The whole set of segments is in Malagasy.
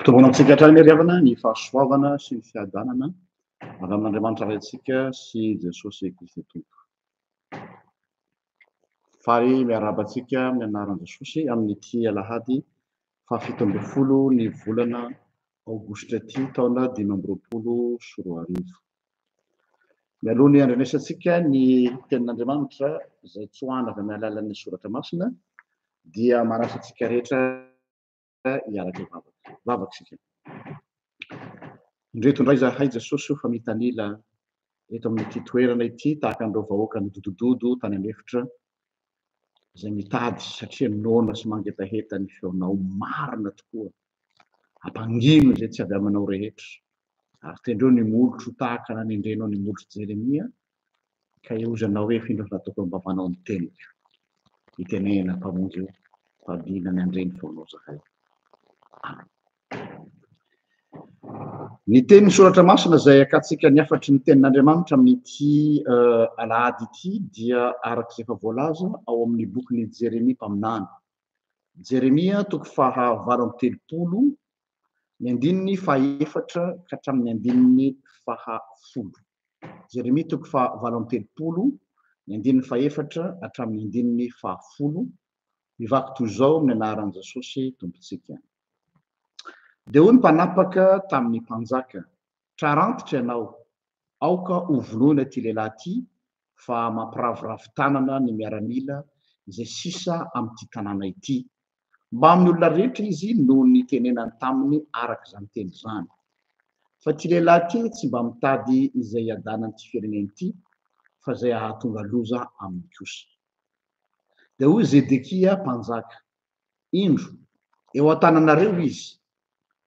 Mitombona amintsika hatrany anie ry havana ny fahasoavana sy ny fiadanana avy amin'Andriamanitra Raintsika sy Jesosy Kristy Tompo. Faly miarahaba antsika amin'ny anaran'i Jesosy amin'ity alahady fahafito ambin'ny folo ny volana Aogositra ity taona dimy amby roapolo sy roa arivo. Mialoha ny handrenesantsika ny tenin'Andriamanitra izay tsoahana avy amin'ny alalan'ny soratra masina dia manasa antsika rehetra hiaraka vavaka. Vavaka isika. Indreto indray zahay Jesosy io fa mitanila eto amin'ity toerana ity tahaka an'ireo vahoaka nidodododo tany an'efitra izay mitady satria noana sy mangetaheta ny feonao marina tokoa ampangino izay tsy avy aminao rehetra ary tendreo ny molotro ho tahaka nanendrenao ny molotro Jeremia ka iozanao hoe findro nataoko ny vavanao ny teniko itenenana mpamonjy io fa dina ny andreny feonao zahay Amen Ny tenin'ny Soratra Masina izay iakantsika ny hafatry ny Tenin'Andriamanitra amin'ity alahady ity dia araka izay efa voalaza ao amin'ny bokin'i Jeremia mpaminany. Jeremia toko faha valo amby telopolo, ny andininy faha efatra ka hatramin'ny andininy faha folo. Jeremia toko faha valo amby telopolo, ny andininy faha efatra hatramin'ny andininy faha folo. Mivaky toy izao amin'ny anaran'i Jesosy Tompontsika. Dia hoy ny mpanapaka tamin'ny mpanjaka, Trarantitra ianao, aoka hovonoina ity lehilahy ity, fa mampiravoravo tanana ny miaramila izay sisa amin'ity tanàna ity. Mbamin'ny olona rehetra izy no nitenenany taminy araka izany teny izany. Fa ity lehilahy ity tsy mba mitady izay hiadanan'ity firenena ity, fa izay hahatonga loza aminy kosa. Dia hoy Zedekia mpanjaka, Indro, eo an-tananareo izy,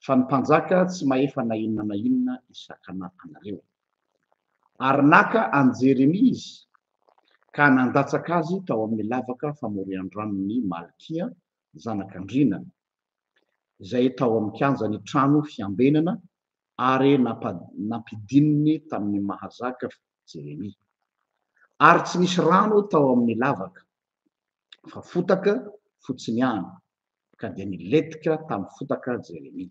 fa ny mpanjaka tsy mahefa na inona na inona hisakana anareo. Ary naka an'i Jeremia izy, ka nandatsaka azy tao amin'ny lavaka famorian-dranon'i Malkia zanak'andriana, izay tao amin'ny kianjan'ny trano fiambenana, ary nampidininy tamin'ny maha zaka Jeremia. Ary tsy nisy rano tao amin'ny lavaka. fa fotaka fotsiny ihany, ka dia nilentika tamin'ny fotaka Jeremia.